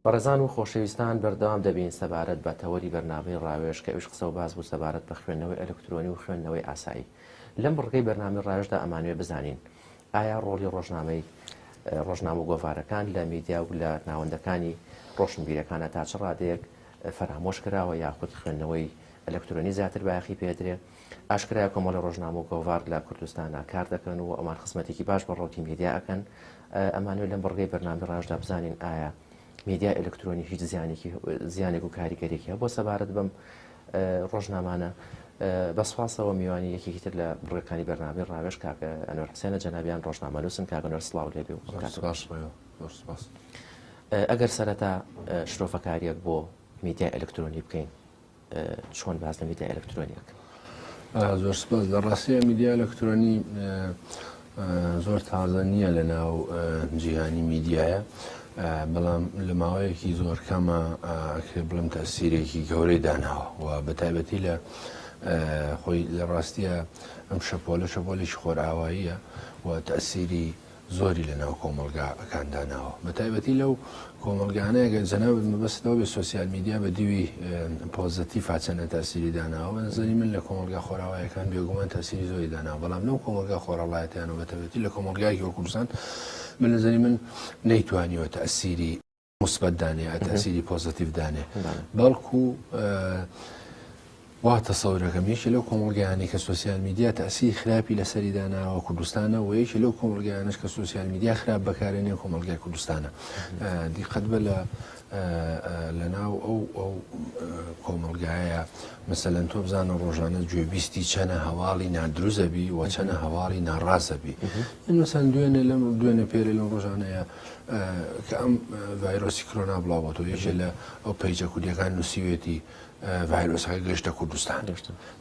بەڕێزان و خۆشەویستان بەردەوام دەبین سەبارەت بە تەوەری بەرنامەی ڕاوێژ کە ئەویش قسە و باس بوو سەبارەت بە خوێندنەوەی ئەلکترۆنی و خوێندنەوەی ئاسایی لەم بڕگەی بەرنامەی ڕاوێژدا ئەمانوێ بزانین ئایا ڕۆڵی ڕۆژنامەی ڕۆژنامە و گۆڤارەکان لە میدیا و لە ناوەندەکانی ڕۆشنبیرەکانە تا چ ڕادەیەک فەرامۆش کراوە یاخود خوێندنەوەی ئەلکترۆنی زیاتر بایەخی پێدرێ ئاشکرای کۆمەڵی ڕۆژنامە و گۆڤار لە کوردستانە کار دەکەن و ئەمان خزمەتێکی باش بە ڕۆکی میدیا ئەەکەن ئەمانوێت لەم بڕگەی بەرنامی ڕژدا بزانین ئایا میدیا ئەلکترۆنی هیچ زیانێکی زیانێک و کاریگەرێکی هە بۆ سەبارەت بم ڕۆژنامانە. بە سوپاسەوە میوانی یەکێکی تر لە بڕگەکانی بەرنامەی ڕاوێژ کاک ئەنوەر حسێنە، جەنابیان ڕۆژنامەنووسن کاک ئەنوەر سڵاو لێبێ و ئەم کاتە باش بێ. زۆر سوپاس. ئەگەر سەرەتا شرۆڤەکارییەک بۆ میدیای ئەلکترۆنی بکەین، چۆن باس لە میدیای ئەلکترۆنی ئەکەن؟ زۆر سوپاس. لە ڕاستییا میدیای ئەلکترۆنی زۆر تازە نییە لە ناو جیهانی میدیایە بەڵام لە ماوەیەکی زۆر کەمە ئەکرێ بڵم تەسیرێکی گەورەی داناوە و بە تایبەتی لە خۆی لە ڕاستیە ئەم شەپۆلە شەپۆلێکی خۆرئاواییە و تەسیری زۆری لە ناو کۆمەلگاکان داناوە بە تایبەتی لەو کۆمەڵگانە گەر جەنابت مەبەستت ئەوەبێ سۆسیال میدیا بە دیوی پۆزەتیفا چەندە تاسیری داناوە بە نەزەری من لە کۆمەڵگا خۆراوایەکان بێگومان تاسیری زۆری داناوە بەڵام لەو کۆمەڵگا خۆراڵایەتیان و بەتەبێتی لە کۆمەڵگایەکی وەک کوردستان بە نەزەری من نەیتوانیوە تاسیری موسبەت دانێ تاسیری پۆزەتیف دانێ بەڵکو وا تەسەور ئەکەم یەکێ لەو کۆمەڵگایانەی کە سۆسیال میدیا تەئسیری خراپی لەسەری داناوە کوردستانە وە یەکێ لەو کۆمەڵگایانەش کە سۆسیال میدیا خراپ بەکارێنێ کۆمەڵگای کوردستانە دیقەت بە لە لەناو ئەو ئەو کۆمەڵگایە مەسەلەن تۆ بزانە ڕۆژانە گوێبیستی چەنە هەواڵی نادروزەبی و چەنە هەواڵی ناڕاستەبی من مەسەن دوێنێ لەم دوێنێ پێرە لەم ڕۆژانەیە کە ئەم ڤایرۆسی کرۆنا بڵاوەتەوە یەکێ لە ئەو پەیجە کوردیەکان نووسیوێتی ڤایرۆسەکە گەشتە کوردستان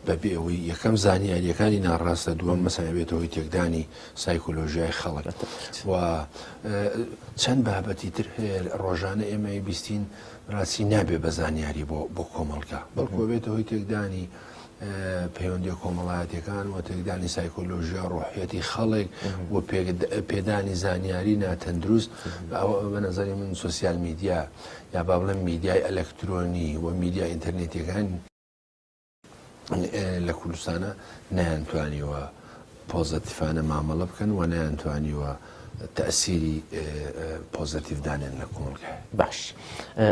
بەبێ ئەوەی یەکەم زانیاریەکانی ناڕاستە دووەم مەسەبێتەوەی تێکدانی سایکۆلۆژیای خەڵک و چەند بابەتی تر هەیە ڕۆژانە ئێمەی بیستین ڕاستی نابێ بە زانیاری بۆ بۆ کۆمەڵگا بەڵکۆبێتەوەی تێکدانی پەیوەندیە کۆمەڵایەتیەکان و تێکدانی سایکۆلۆژیا ڕۆحەتی خەڵێک و پێدانی زانیاری ناتەندروست ئەوە بە نظری من سوسیال میدیا یا با بڵێن میدیای ئەلەکترۆنی و میدیا ئینتەرنێتیەکان لە کوردستانە نەیانتوانیوە پۆزەتیفانە مامەڵە بکەن و نەیانتوانیوە تەئسیری پۆزەتیف دانێن لە کۆمەڵگای. باش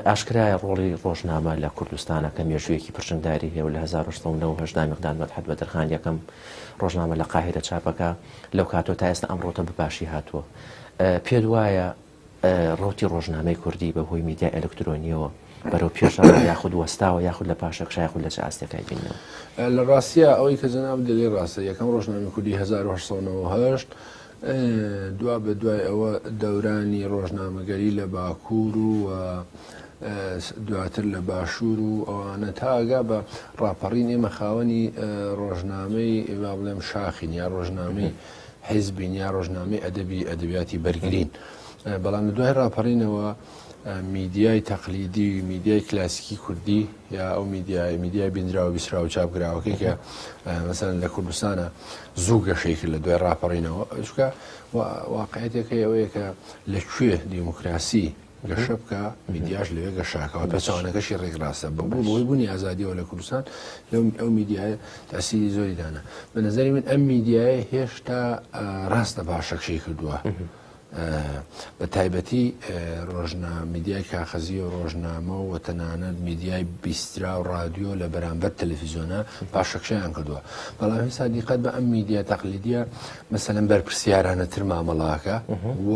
ئاشکرایە ڕۆڵی ڕۆژنامە لە کوردستانە کە مێژوویەکی پرچنگداری هەیە و لە هەزار و هەشت سەد و نەوە و هەشت دا میقداد مەدحەت بەدرخان یەکەم ڕۆژنامە لە قاهیرە چاپەکا لەو کاتەوە تا ئێستا ئەم ڕوتە بە باشی هاتووە پێت وایە ڕەوتی ڕۆژنامەی کوردی بە هۆی میدیای ئەلکترۆنییەوە بەرەو پێش ڕەوە یاخود وەستاوە یاخود لە پاشەکشە یاخود لە چ ئاستێکا ئەیبیننەوە؟ لە ڕاستیا ئەوەی کە جەنابت دەلێ ڕاستە، یەکەم ڕۆژنامەی کوردی هەزار و هەشت سەد و نەوەد و هەشت دوا بە دوای ئەوە دەورانی ڕۆژنامەگەری لە باکوور و و دواتر لە باشوور و ئەوانە تا ئەگا بە ڕاپەڕین ئێمە خاوەنی ڕۆژنامەی با بڵێم شاخین یا ڕۆژنامەی حیزبین یا ڕۆژنامەی ئەدەبی ئەدەبیاتی بەرگرین بەڵام لە دوای ڕاپەڕینەوە میدیای تەقلیدی میدیای کلاسیکی کوردی یا ئەو میدیای میدیای بینراوە بیسرا و چاپگراوەکەی کە مەسەن لە کوردستانە زوو گەشەی کرد لە دوای ڕاپەڕینەوە ئەشکە واقعەتەکەی ئەوەیە کە لەکوێ دیموکراسی گەشە بکا، میدیاش لەوێ گەشاکەوە، پێچەوانەکەشی ڕێکڕاستە، بە هۆی بوونی ئازادییەوە لە کوردستان ئەو میدیایە تاسیری زۆری دانا، بە نەزەری من ئەم میدیایە هێشتا ڕاستە پاشەکشەی کردووە. بە تایبەتی ڕۆژنا میدیای کاخەزی و ڕۆژنامە و تەنانەت میدیای بیسترا و رادیۆ لە بەرامبەر تەلەفیزیۆنە پاشەکشیان کردووە بەڵام هێستا دیقەت بە ئەم میدیا تەقلیدە مەسەن بەرپرسیارانە تر مامەڵاکە و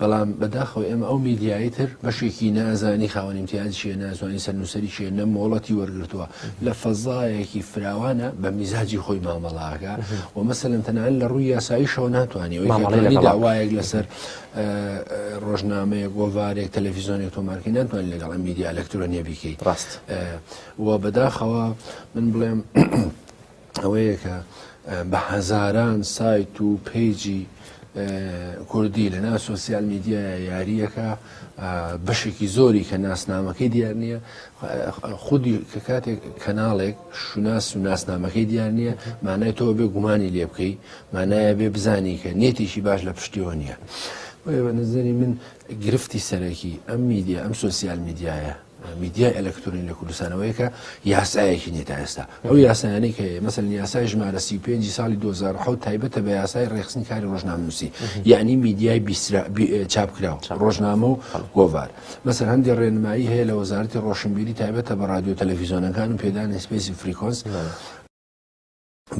بەڵام بەداخەوە ئێمە ئەو میدیایی تر بەشێکی نازانی خاوەن ئیمتیاز چیە نازانی سەرنووسری چیە نە مۆڵەتی وەرگتووە لە فەزایەکی فراوانە بە میزاجی خۆی مامەڵاگە و مەسەن تەنان لە ڕووی یاساییشەوە ناتوانانی مامەڵی داوایەک لەسەر ڕۆژنامەیە گۆڤارێک تەلەڤیزیۆنێک تۆمارکە ناتوان لەگەڵ میدیا ئەلکترۆنیە بیکەیت ڕاست و بەداخەوە من بڵێم ئەوەیە کە بە هەزاران سایت و پەیجی کوردی لە ناو سۆسیال میدیایە یاریەکە بەشێکی زۆری کە ناسنامەکەی دیار نییە خودی کە کاتێک کەناڵێک شوناس و ناسنامەکەی دیار نییە مانای تۆ بێ گومانی لێ بکەی مانایە بێ بزانی کە نێتێکی باش لە پشتیەوە نییە بە نظری من گرفتی سەرەکی ئەم میدیا ئەم سۆسیال میدیایە میدیای ئەلەکترۆنی لە کوردستانەوەی کە یاسایەکی نیە تا ئێستا ئەو یاسایانەی کە مەسەن یاسای ژمارە سی پێ ساڵی 2010 تایبەتە بە یاسای ڕێخستنی کاری ڕۆژنامنووسی یعنی میدیای چاپکراو ڕۆژنامە و گۆڤار مەسەر هەندی ڕێنمایی هەیە لە وەزارتی ڕۆشنبیری تایبەتە بە ڕادیو تەلەفیزیۆنەکان و پێدانی سپیسی فریکۆنس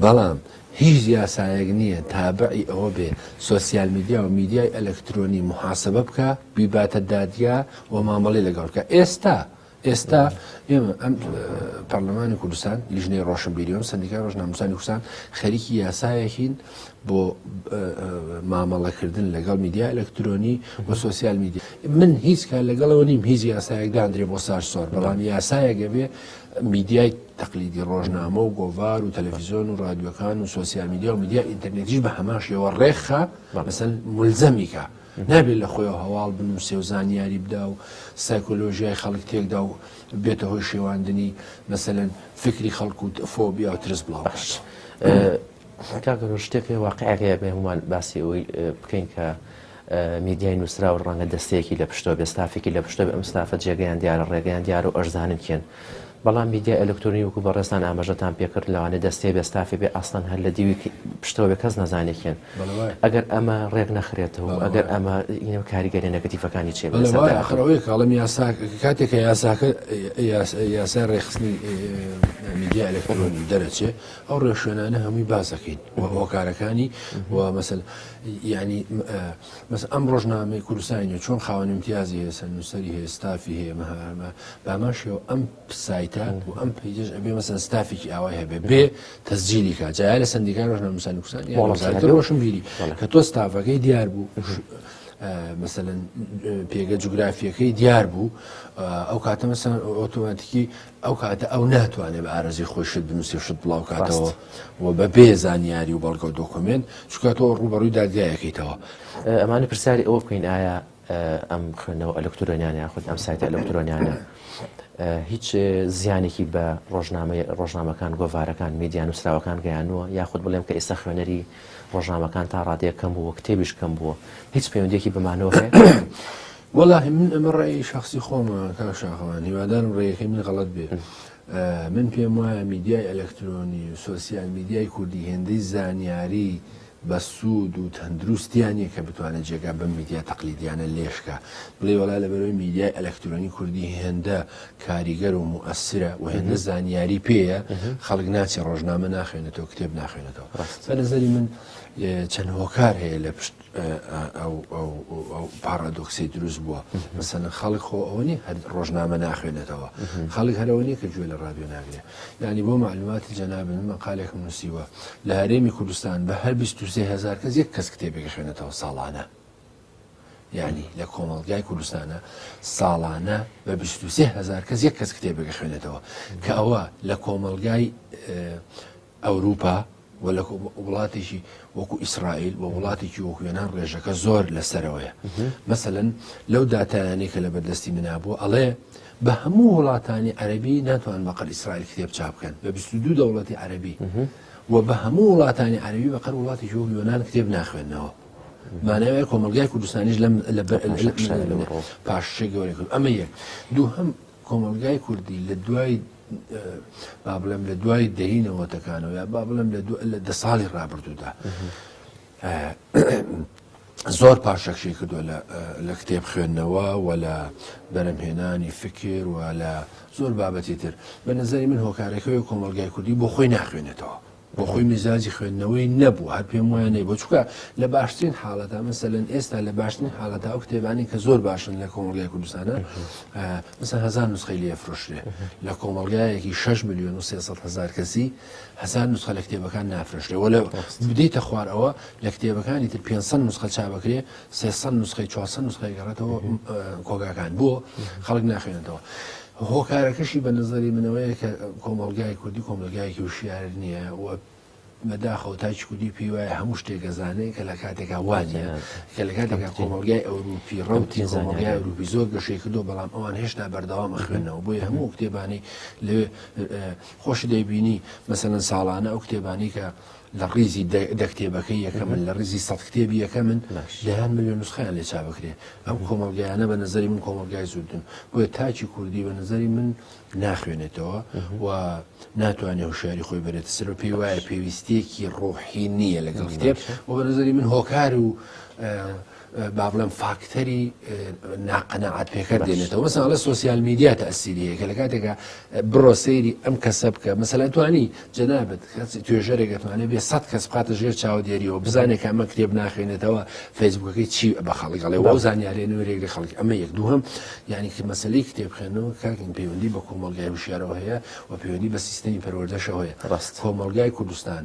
بەڵام هیچ یاسایەک نییە تابعی ئەوە بێ سۆسیال میدیا و میدیای ئەلەکترۆنی موحاسەبە بکا، بیباتە دادگا و مامەڵەی لەگەڵ بکا. ئێستا ئێستا ئێمە ئەم پەرلەمانی کوردستان لیژنەی ڕۆشنبیری و سندیکای ڕۆژنامەسانی کوردستان خەریکی یاسایەکین بۆ مامەڵەکردن لەگەڵ میدیا ئەلەکترۆنی و سوسیال میدیا من هیچ کار لەگەڵەوە نیم هیچ یاسایەک دادرێ بۆ سار سۆر بەڵام یاسایەگە بێ میدیای تەقلیدی ڕۆژنامە و گۆڤار و تەلەفیزۆن و ڕادیوەکان و سوسیال میدیا و میدیا ئینتەرنێتیش بە هەماشەوە ڕێکخە مەسەن ملزەمیکە نابێت لە خۆی هەواڵ بنووسێ و زانیاری بدا و سایکۆلۆژیای خەڵک تێکدا و بێتە هۆی شێواندنی مەسەن فکری خەڵک و فۆبیا و ترس بڵاو باش. کاگەۆ شتێک واقعەکەیە بێ هەمومان باسی ئەوەی بکەین کە میدیای نووسراو ڕەنگە دەستەیەکی لە پشتەوە بێت، ستافێکی لە پشتەوە بێت، ئەم ستافە جێگەیان دیارە، ڕێگەیان دیارە و ئەشزانن کێن. بەڵام میدیای ئەلکترۆنی وەکوو بەڕێزتان ئاماژەتان پێ کرد، لەوانەیە دەستەیە بێت، ستافێ بێت، ئەسڵەن هەر لە دیوی پشتەوە بێت، کەس نەزانێ کێن. ئەگەر ئەمە ڕێک نەخرێتەوە و ئەگەر ئەمە کاریگەرییە نێگەتیڤەکانی چییە بە سەر داهاتوو؟ بەڵێ وایە، ئەخر ئەوەیە کە ئەڵێم یاسا کاتێک کە یاساکە یاسای ڕێکخستنی میدیا ئەلکترۆنی دەرەچێ، ئەو ڕێوشوێنانە هەمووی باس دەکەین و هۆکارەکانی و مەسەلە. یانی بەس ئەم ڕۆژنامەی کوردستانی نوێ چۆن خاوەن امتیازی هەیە سەر نووسری هەیە ستافی هەیە مەهامە بامان شێوە ئەم سایتە و ئەم پیجش ئەبێ مەسەن ستافێکی ئاوای هەبێ بێ تەسجیلی کا جای لە سندیکار ڕۆژنامە نووسانی کوردستان یا وەزارەت ڕۆشن بیری کە تۆ ستافەکەی دیار بوو مثلەن پێگە جوگرافیەکەی دیار بوو ئەو کاتە مەسەن ئۆتۆماتیکی ئەو کاتە ئەو ناتوانێت بە ئارەزوی خۆی شت بنووسێ شت بڵاو کاتەوە و بە بێ زانیاری و بەڵگە و دۆکۆمێنت چکە تۆ ڕوبەڕووی دادگایەکەیتەوە. ئەمانە پرسیاری ئەوە بکەین ئایا ئەم خوێندنەوە ئەلکترۆنیانە یاخود ئەم سایتە ئەلکترۆنیانە هیچ زیانێکی بە ڕۆژنامە ڕۆژنامەکان گۆڤارەکان میدیان نووسراوەکان گەیانوە یاخود بڵێم کە ئێستا خوێنەری ڕۆژنامەکان تا ڕادەیە کەم بووە کتێبیش کەم بووە هیچ پەیوەندێکی بمانەوە هەیە؟ وەڵاهی من ئەمە ڕای شخصی خۆمە کاک شاخەوان هیوادارم ڕێیەکەی من غەڵەت بێ من پێم وایە میدیای ئەلەکترۆنی و سۆسیال میدیای کوردی هێندەی زانیاری بە سوود و تەندروستیان نیە کە بتوانێت جێگا بەم میدیا تەقلیدیانە لێشکە بڵێ وڵا لە بەرەوەی میدیای ئەلەکترۆنی کوردی هێندە کاریگەر و موئسرە و هێندە زانیاری پێیە خەڵک ناچی ڕۆژنامە ناخوێنێتەوە کتێب ناخوێنێتەوە بە نظری من چەند هۆکار هەیە لە پشت ئەو پاڕادۆکسەی دروست بووە مەسەن خەڵک خۆ ئەوە نیە هەر ڕۆژنامە ناخوێنێتەوە خەڵک هەرەوە نیە کە گوێ لە ڕادیۆ ناگرێ ینی بۆ معلوماتی جەناب من مەقالێک نووسیوە لە هەرێمی کوردستان بە هەر 23هزار کەس یەک کەس کتێبێک خوێنێتەوە ساڵانە ینی لە کۆمەڵگای کوردستانە ساڵانە بە 23هزار کەس یەک کەس کتێبێک خوێنێتەوە کە ئەوە لە کۆمەلگای ئەوروپا و لە وڵاتێکی وەکو ئیسرائیل و وڵاتێکی وەکو وێنان ڕێژەکە زۆر لەسەرەوەیە مەسەن لەو دااتانەی کە لە بەردەستی منابوو ئەڵێ بە هەموو وڵاتانی عەربی ناتوان بەقەر ئیسرائیل کتێب چاپ بکەن بە 22 دەوڵەتی عەربی و بە هەموو وڵاتانی عەربی بەقەر وڵاتی جۆ یۆناان کتێب ناخوێنەوە مانەوەی کۆمەلگای کوردستانیش لەم پاششی گەورەکرد ئەمە یەک دوو هەم کۆمەڵگای کوردی لە دوای با بڵێم لە دوای دەی نەوەتەکانەوە یا با بڵێم لە دە ساڵی ڕابردوودا زۆر پاشەکشی کردو لە کتێب خوێندنەوە و لە بەرەمهێنانی فکر و لە زۆر بابەتی تر بە نظری من هۆکارەکەی کۆمەلگای کوردی بۆ خۆی ناخوێنێتەوە بۆ خۆی میزاجی خوێندنەوەی نەبوو هەر پێم وایە نەی بۆ چکە لە باشترین حاڵەتا مەسەلەن ئێستا لە باشترین حاڵەتا ئەو کتێبانی کە زۆر باشن لە کۆمەڵگای کوردستانە مثل هزار نسخەی لێ فرۆشرێ لە کۆمەڵگایەکی 6 میلیۆن و 300 هزار کەسی هزار نسخە لە کتێبەکان نافرشتێ وە لە بدەیتە خوار ئەوە لە کتێبەکانی تر 500 نسخە چابکرێ 300 نسخەی 400 نسخەی گەڕێتەوە کۆگاکان بۆ خەڵک ناخوێنێتەوە. هۆکارەکەشی بە نەزەری من ئەوەیە کە کۆمەڵگای کوردی کۆمەلگایەکی وشیار نییە و بەداخەوە تاکی کوردی پێی وایە هەموو شتێک ئەزانێ کە لە کاتێکا وانە کە لە کاتێکا کۆمەلگای ئەوروپی ڕوتی زانیای ئەوروپی زۆر گەشەی کردو بەڵام ئەوان هێشتا بەردەوام ئەخوێنەوە بۆیە هەموو کتێبانی لەوێ خۆش دەیبینی مەسەلەن ساڵانە ئەو کتێبانی کە لە ڕیزی دە کتێبەکەی یەکەمن، لە ڕیزی سەد کتێبی یەکەمن، دەیان ملیۆن نوسخەیان لێ چاپ بکرێ. ئەم کۆمەڵگایانە بە نەزەری من کۆمەڵگای زوردن. بۆیە تاکی کوردی بە نەزەری من ناخوێنێتەوە و ناتوانێ هۆشیاری خۆی بەرێتە سەر و پێی وایە پێویستیەکی ڕۆحی نییە لەگەڵ کتێب و بە نەزەری من هۆکار و با بڵێم فاکتەری ناقەنەعات پێکەر دێنێتەوە مەسا لە سوسیال میدیا تاسیریە کە لە کاتێکە بڕۆ سەیری ئەم کەسە بکە مەسەلا توانی جەنابەت کەسی توێژەرێکەتوانێت بێ سە کەس بقاتە ژێر چاودێریەوە بزانێت کە ئەمە کتێب ناخێنێتەوە فەیسبوکەکەی چی بە خەڵکڵێ وە زانیارێ نوێرێک لە خەڵک ئەمە یەک دووهم یعنی کە مەسلی کتێب خوێنەوە کاکن پەیوەندی بە کۆمەلگای وشارەوە هەیە و پەیوەندی بە سیستمی پەروەردەشەوەیە ڕاست کۆمەلگای کوردستان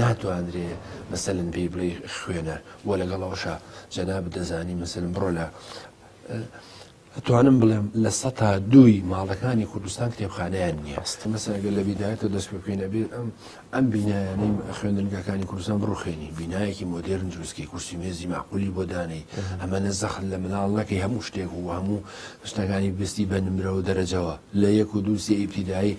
ناتوانرێ مەسەلەن پێی بڵێی خوێنەر بۆ لەگەڵ ئەوشا جەنابت دەزانی مەسەلم بڕۆ لە توانم بڵێم لە سەتا دووی ماڵەکانی کوردستان کتێبخانیان نییە ئەستی مەسەگە لە بیدایەتە دەست پێ بکەین ئەبێت ئەم ئەم بینایانەی خوێندنگەکانی کوردستان بڕوخێنی بینایەکی مۆدررن دروستکەی کورسی مێزی ماقولی بۆ دانەی ئەمە نە زەخت لە مناڵ نەکەی هەموو شتێک و هەموو شتەکانی بستی بە نمرەوە دەرەجەوە لە یەک و دووسی ئیبتیدایی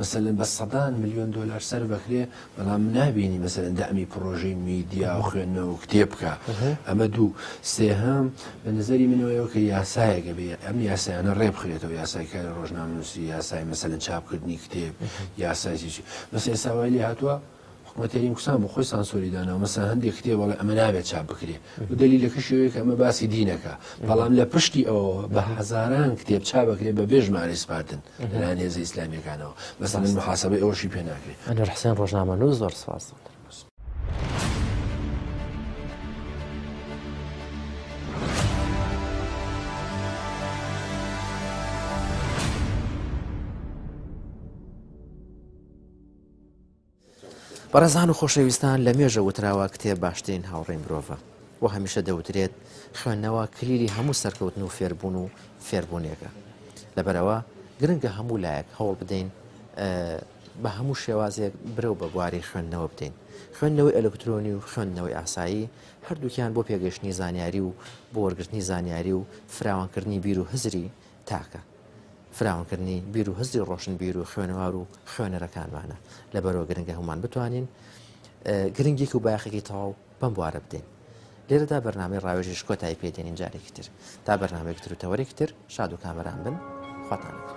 مەسەلەن بە سەدان ملیۆن دۆلار سەرف ئەکرێ بەڵام نابینی مەسەلەن دەعمی پڕۆژەی میدیا و خوێندنەوە و کتێب بکا ئەمە دوو سێهەم بە نظری منەوەیەوە کە یاسایەک ئەبێ ئەم یاسایانە ڕێ بخرێتەوە یاسای کاری ڕۆژنامەنووسی یاسای مەسەلەن چاپکردنی کتێب یاسای چی چی بەس ئێستا وای لێ هاتووە حکومەت هەریم کوردستان بۆ خۆی سانسۆری داناوە مەسەن هەندێک کتێب بەڵێ ئەمە نابێت چاپ بکرێ و دەلیلەکەشی ئەوەیە کە ئەمە باسی دینەکە بەڵام لە پشتی ئەوەوە بە هەزاران کتێب چا بکرێت بە بێ ژمارە سپاردن لەلایەن هێزە ئیسلامیەکانەوە مەسەن محاسبەی ئەوەشی پێ ناکرێت ئەنوەر حسێن ڕۆژنامەنووس زۆر سپاس بەڕێزان و خۆشەویستان لە مێژە وتراوە کتێب باشترین هاوڕێی مرۆڤە و هەمیشە دەوترێت خوێندنەوە کلیلی هەموو سەرکەوتن و فێربوون و فێربوونێکە لەبەرەوە گرنگە هەموو لایەک هەوڵ بدەین بە هەموو شێوازێک برەو بە بواری خوێندنەوە بدەین خوێندنەوەی ئەلکترۆنی و خوێندنەوەی ئاسایی هەردووکیان بۆ پێگەشتنی زانیاری و بۆ وەرگرتنی زانیاری و فراوانکردنی بیر و هزری تاکە فراونکردنی بیر و هزری ڕۆشنبیر و خوێنەوار و خوێنەرەکانمانە لە بەرەوە گرنگە هەمومان بتوانین گرنگیک و باخێکی تەواو بەم بوارە بدەین لێرەدا بەرنامەی ڕاوێژش کۆتایی پێدێنین جارێکی تر تا بەرنمەێکتر و تەوەرێکتر شاد و کامەران بن خواتانەکە